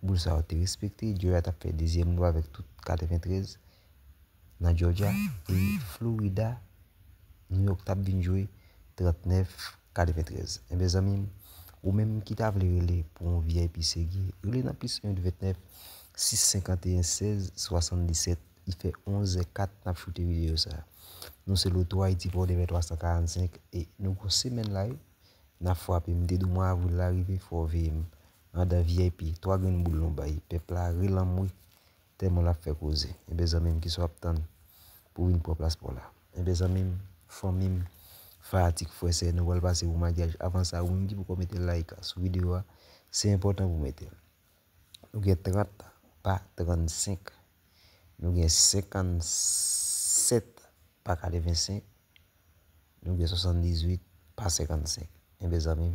Boul sa yo te respekte, Joya t ap fè dezyèm gòl avèk tout 93 nan Jòjya e Florida, New York t ap vin jwe 39 93. Enben zanmi m, ou menm ki ta vle rele pou yon vip serye, rele nan plis 1 829 651 16 77 li fè 11 è 4 n ap choute videyo sa. Nou se Loto Haiti pou Odebè 345 e nou gwo semèn la wi n ap frape m te di w mwa avril la rive fò w veye m. andan vip 3 grenn boul nou bay pèp la ri lanmwe tèlman lap fè koze enben zanmim kisa wap tann pou vin pran plas paw la enben zanmim fanmim fanatik frè sè nou pral pase pou magyaj avan sa ou menm ki poko mete like sou video a se enpòtan pou metel nou gen 30 pa 35 nou gen 57 pa 85 nou gen 78 pa 55 enben zanmim.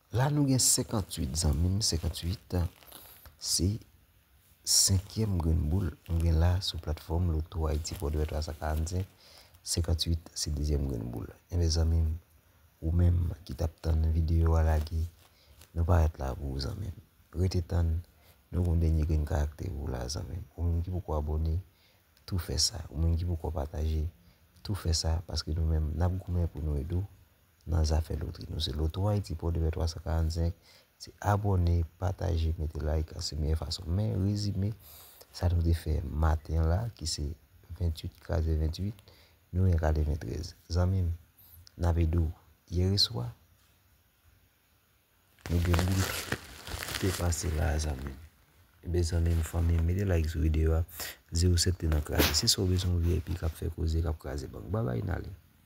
La nou gen 58 zanmi m, 58 se senkyèm grenn boul nou gen la sou platfòm Loto Ayiti Pòdpè 345, 58 se dezyèm grenn boul. Enben zanmi m, ou menm ki t ap tann videyo a lage, nou parèt la pou ou zanmi m. Rete tann, nou gen yon dènye grenn karaktè pou ou la zanmi m. Ou menm ki poko abòne, tou fè sa. Ou menm ki poko pataje, tou fè sa paske nou menm n ap goumen pou nou ede w nan zafè lotri. Nou se Loto Haiti Port de paix 345, se abòne, pataje, mete like, se meyè fason. Men rezime sa nou te fè maten la ki se 28 kraze 28, nou gen kale 23. Zanmi m, n ap ede w. Yereswa, nou gen moun ki te pase la a zanmi m. Enben zanmi m, fanmi m, mete like sou videyo a, di w se te nan kraze. Si sa w bezwen w vip k ap fè koze, k ap kraze bank. Babay n ale.